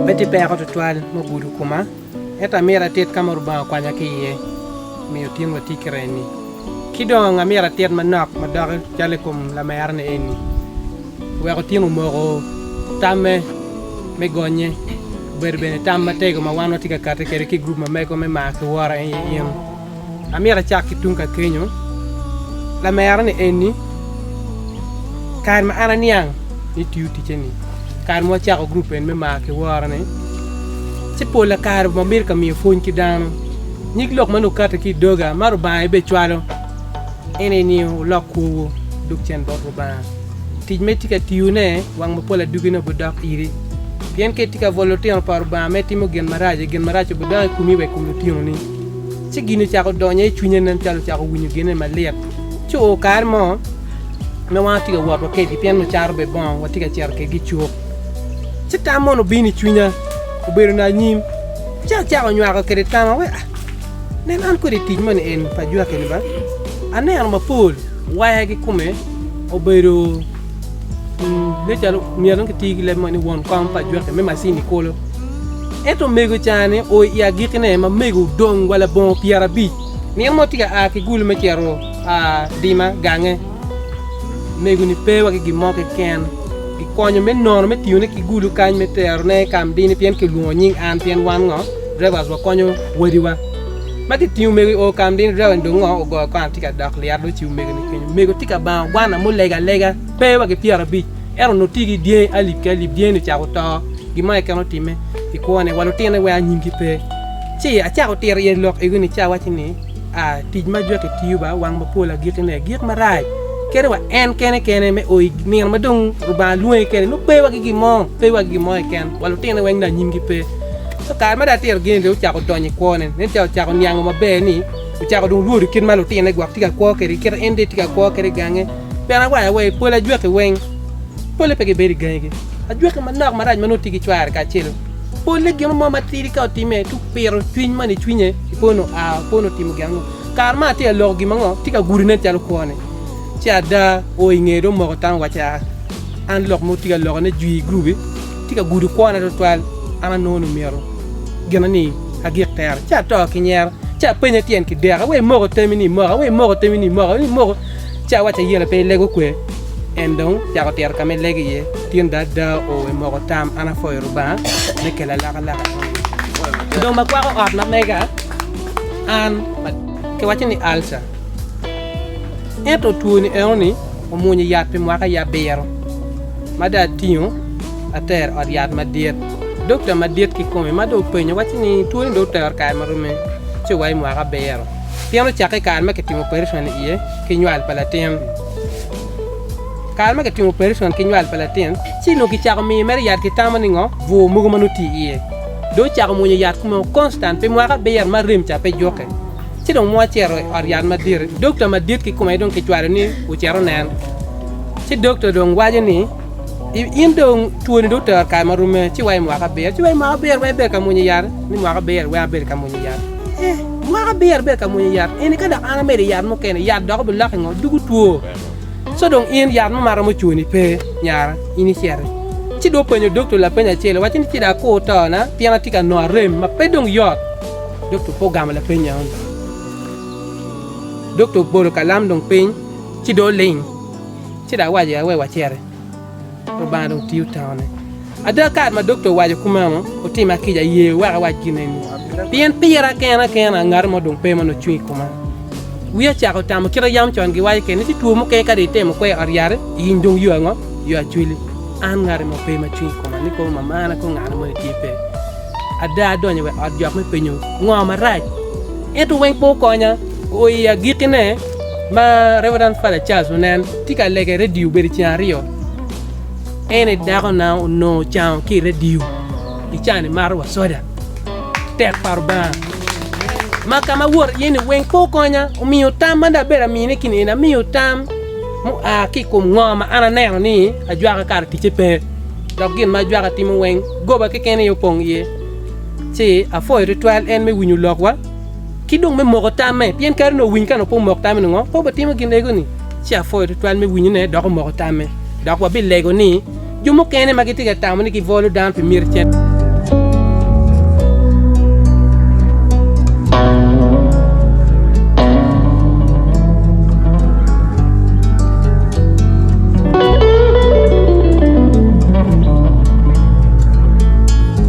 Pe tye peko tutwal me gudo koma, ento amyero atit ka ma Rubanga okwanya ki iye omiyo otin watic ki remmi. Ci dong amyero atit manok ma doki calo i kom lamerani eni. Wek otyem omoko tamme me gonnye, obedo bene tam matego ma wan watye ka kati kwede ki i gurup ma mego me Mar ki Woro aye in. Amyero acak ki tung ka kenyo, Lamera ni enni, kare ma an aniang ni itiyo ticce-ni, kare ma wacako gurup eni me Mar ki Woro-ni, ci pola kare wamito ka miyo pwony ki dano. Nyig lok ma nongo kati ki i doga ma Rubanga aye bene cwalo. Eni ni wulok kwowu duk cen bot Lubanga. Tic ma itye ka tiyone wang mapol adugi-ni obidok iri. Pien ka itye ka bwolo lutino pa Lubanga ma itimo gin maraco, gin maraco obidok i komi wa i kom lutinoni. Ci gin ocako donyo i cwinye nen calo ocako winyo genne malit. Ci oo kare mo ma wan watye ka wot wa kedgi pien wacato bene bongo, watye ka cito kedgi i cuk. Ci tam mono obino i cwinya, obedo ni anyim. Ci acako nywako kede tama, we a. Nen an kwede i tic moni en pa jwaki ni ba, aneno mapol waya ki kome obedo ne calo myero ki tii ki leb moni won kom pa jwaki me macini kolo. Ento mego cani o i agiki ne ma mego odong wa labongo pyera abic. Nino mo tika a ki gulu me cero a dima gange mego ni pe wa ki gin mo keken. Pi konyo me nono me tiyone ki gulu kany me terone ka mdini pien ki lwongo nying an pien wan ngo drivers wa konyo wadiwa ma ki tingo omego i oo ka mdini driver ni dong ngo ogoyo kong atye ka dok lyet do ci omego ni kenyo omego tye ka bango gwana mo lega lega pe wa ki pyera abic ento onongo tye ki dyangi alip ki alip dyangi ni ocako to gin mo keken otime ki kwone wa lutine weko anyimgi pe ci acako tito iye lok ego ni ci awaci ni a tic ma jwaki tiyo ba wang mapol agiki ne gik marac kene wa en kene kene me oyi nino ma dong rubanga lwonge kene no pe wagi gimo pe wagi gimo keken wa lutine weng na nyimgi pe so kare ma da tiro gini de ocako donyo i kwone nen ca ocako niango maber ni ocako dong lwodo kit ma lutine gwok tye ka kwo kede kit en de tye ka kwo kede gange pien awaco awa i pol ajwaki weng pole pe gibedo i gangi gi ajwaki manok marac ma nongo tye ki cware kacel Polle gin mo matidi ka otime ci opito cwiny man i cwinye i pono a pono timo gin ango kare ma atye aloko gin mango tye ka gudo nen calo kwone ci ada o i ngeye dong moko tam waci a an lok mo tye ka loko ne jwi i group tye ka gudo kwona tutwal an anongo ni myero gina ni agik tero ci ato ki nyero ci apenye tyen ki deka wai moko temi ni moko wai moko temi ni moko ni moko Ca waco ayela pe ilego kwe, en dong cako tito ka ma ilego iye. Tin da ada o we moko tam, an apwoyo Rubanga me kela alakalaka enoni. Dong ma kwako ot ma mega an ma kiwaco ni alca. Ento twoni enoni omwonyo yat pi mwaka aye abiro ma dong atingo atero ot yat madit. Dokta madit kikome ma dong openyo waco ni twoni dong otero kare ma romme ci wa i mwaka abiro. pien ocakke i kare ma kitimo opereson iye ki nywal pa latin. Kare ma kitimo opereson ki nywal pa latin, ci nongo kicako miyo mere yat kitamo ni ngo bwur mogo ma nongo tye iye. Dong ocako mwonyo yat kume o konstan pi mwaka abiro ma rem ca pe jukke. Ci dong mo acito i ot yat madit, dokta madit kikome dong kicwalo ni ocit onen. Ci dokta dong waco ni. In dong twoni dong otero kare ma rume, ci wa i mwaka abiro, ci wa i mwaka abiro wek ibed ka mwonyo yat, ni mwaka abiro wek abed ka mwonyo yat. Ee, mwaka abiro ibed ka mwonyo yat eni, ka dok an amedo yat mukene, yat dok obilok i ngo? Dugu two. Co dong in yat mo ma romo cuni pe, nyara, in iciti. Ci dong openyo dokta lapeny acel, owacci ni ci dong akur tona, pien atye ka nongo arem ma pe dong yot. Dokta ope ogamo lapeny enoni. Dokta obolo kalam dong piny, ci dong oling. ci dok waco ya wek waciti. Lubanga dong tiyo taone. Ada, kare ma dokta owaco kumeno, otima kica aye wek awac gin eni, pien pira kena kena ngat mo dong pe ma nongo cung i koma. Wiya ocako tamo kit ma yam con giwaco kene ni tye two mukene ka dong itemo kwe i ot yati, iyiny dong yo ango? Yo acwili. An ngati mo pe ma cung i koma ni kobo mamana kong ngane moni tye pe. Ada adonyo wa i ot jok me penyo ngo marac, ento weng pe okonya. Oi agikkine, Ma Reverend Father Charles Onen tye ka lege i redio obedo ceng aryo, en i dako na onongo ocango ki i redio i can ni maro wa soda tek pa Rubanga ma ka ma wot iye ni weng pe okonya omiyo tam ma dong abedo amine ki ni eni amiyo tam mu a ki ikom ngo ma an aneno ni ajwaka kara ticce pe dok gin ma ajwaka timo weng goba keken aye opong iye ci apwoyo twatwal en me winyo lok wa ki dong me moko tamme, pien kadi onongo owiny ka nongo pe omok tamme ni ngo, pe obitimo gin ego-ni. Ci apwoyo tutwal me winyone dok omoko tamme. Dok wabilego ni, jo mukene ma gitye ka tamo ni gibwolo dano pi myero cen.